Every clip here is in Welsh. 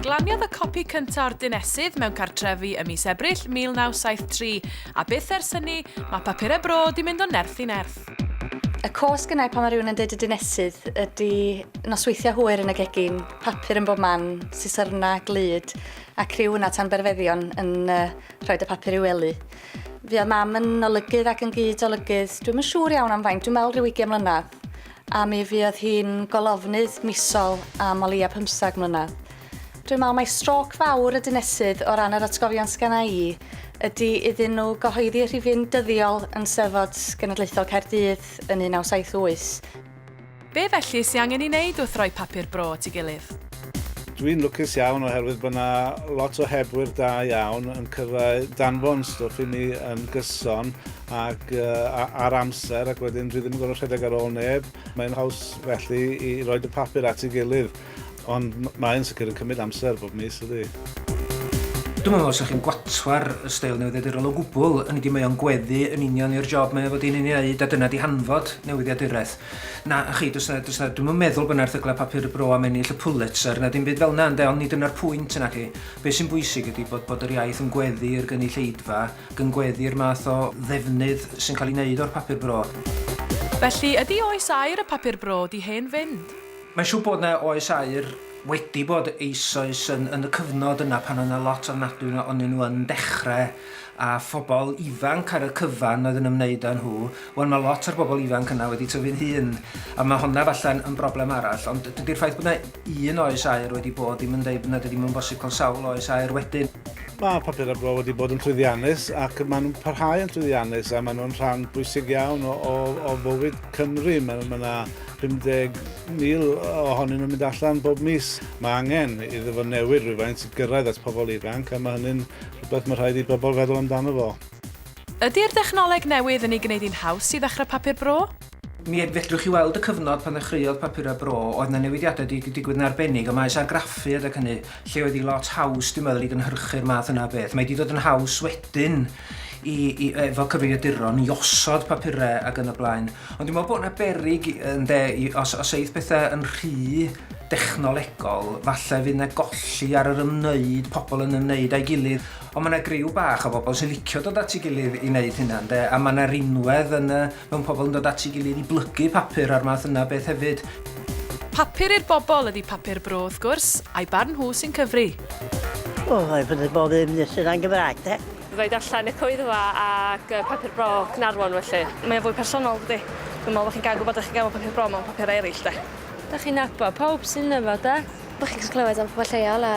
Glaniodd y copi cyntaf o'r dinesydd mewn cartrefi ym mis Ebrill 1973, a byth ers hynny, mae papurau bro di mynd o nerth i nerth. Y cosg yna pan mae rhywun yn dweud y dinesydd ydy nosweithiau hwyr yn y gegin, papur yn bob man, sisyrna, glyd, a criw yna tan berfeddion yn uh, rhoi y papur i'w wely. Fi oedd mam yn olygydd ac yn gyd olygydd, dwi'n yn siŵr iawn am faint, dwi'n meddwl rhyw 20 mlynedd. A mi fuodd hi'n golofnydd misol am o leia pymthag mlynedd. Dwi'n me'wl mai strôc fawr y dinesydd o ran yr atgofion sgenna i ydi iddyn nhw gyhoeddi rhifyn dyddiol yn Steddfod Genedlaethol Caerdydd yn 1978. Be felly sy angen 'i neud wrth roi papur bro at 'i gilydd? Dwi'n lwcus iawn oherwydd bod 'na lot o hebwyr da iawn yn cyrraedd danfon stwff i mi yn gyson ac ar amser ac wedyn dwi ddim yn gorfod rhedeg ar ôl neb. Mae'n haws felly i roed y papur at ei gilydd ond mae'n sicr yn cymryd amser bob mis ydy. Dwi'm yn meddwl sa chi'n gwatwar y steil newyddiadurol o gwbl, hynny ydi mae o'n gweddu yn union i'r job mae o fod i'n ei wneud a dyna di hanfod newyddiaduraeth. Na, a chi, does na, does na, dwi'm yn meddwl bod na erthyglau papur y bro am ennill y Pulitzer na dim byd fel na ynde ond ni dyna'r pwynt naci. Be sy'n bwysig ydi bod bod yr iaith yn gweddu i'r gynulleidfa Gyngweddi'r math o ddefnydd sy'n cael ei wneud o'r papur bro. Felly, ydy oes aur y papur bro 'di hen fynd? Mae'n siŵr bod 'na oes aur wedi bod eisoes yn yn y cyfnod yna pan oedd 'na lot ofnadwy o- onyn nhw yn dechre a phobl ifanc ar y cyfan oedd yn ymwneud â nhw. Wel mae lot o'r bobl ifanc yna wedi tyfu'n hŷn a mae honna falle'n yn broblem arall ond dydy'r ffaith bod 'na un oes aur wedi bod ddim yn deud bod 'na 'di ddim yn bosib cael sawl oes aur wedyn. Mae papurau bro wedi bod yn llwyddiannus ac maen nhw'n parhau yn llwyddiannus a maen nhw'n rhan bwysig iawn o, o, o fywyd Cymru. Mae ma 'na 50,000 ohonyn nhw'n mynd allan bob mis. Mae angen iddo fo newid rhywfaint i gyrraedd at pobl ifanc a mae hynny'n rhywbeth mae rhaid i bobl feddwl amdano fo. Ydy'r dechnoleg newydd yn ei gwneud hi'n haws i ddechrau Papur Bro? Mi fedrwch chi weld y cyfnod pan ddechreuodd Papurau Bro, oedd 'na newidiadau wedi digwydd yn arbennig ym maes argraffu adeg hynny, lle oedd hi lot haws dwi'n meddwl i gynhyrchu'r math yna o beth. Mae 'di dod yn haws wedyn i i efo cyfrifiaduron i osod papurau ac yn y blaen. Ond dwi'n meddwl bod 'na beryg ynde i os os eith pethau yn rhy dechnolegol falle fydd 'na golli ar yr ymwneud, pobl yn ymwneud â'i gilydd. Ond mae 'na griw bach o bobl sy'n licio dod at ei gilydd i wneud hynna, ynde? A mae 'na rinwedd yn y... mewn pobl yn dod at ei gilydd i blygu papur a'r math yna o beth hefyd. Papur i'r bobl ydi Papur Bro, wrth gwrs, a'i barn nhw sy'n cyfri. O, rhaid bod bob un yn dysgu rhan Gymraeg, de? Fydda i darllen Y Coedfa ac Papur Bro, Caernarfon, felly. Mae o'n fwy personol, dydi? Dwi'n meddwl bod chi'n cael gwybod dach chi'n gael mewn Papur Bro mewn papurau eraill, de? Dach chi'n nabod pawb sydd ynddo fo, de? Dach chi'n gallu clywed am pobl lleol a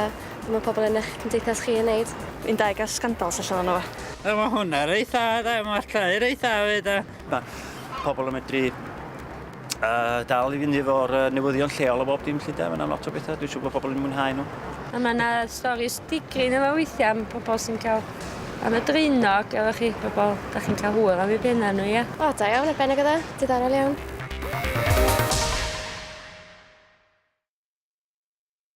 be mae pobl yn eich cymdeithas chi yn wneud. Fi'n deg ar scandals allan yno fo. Wel mae hwnna reit dda de, mae'r llai reit dda fyd de. Mae pobl yn medru uh, dal i fynd efo'r uh, newyddion lleol o bob dim lle de, mae yna lot o bethau, dwi'n siŵr bod pobl yn mwynhau nhw. A mae yna storis digrin efo weithiau am pobl sy'n cael am y dreinog, efo chi pobl, da chi'n cael hwyr am ei bennau nhw, ie? O, da iawn, y bennau gyda, diddorol iawn.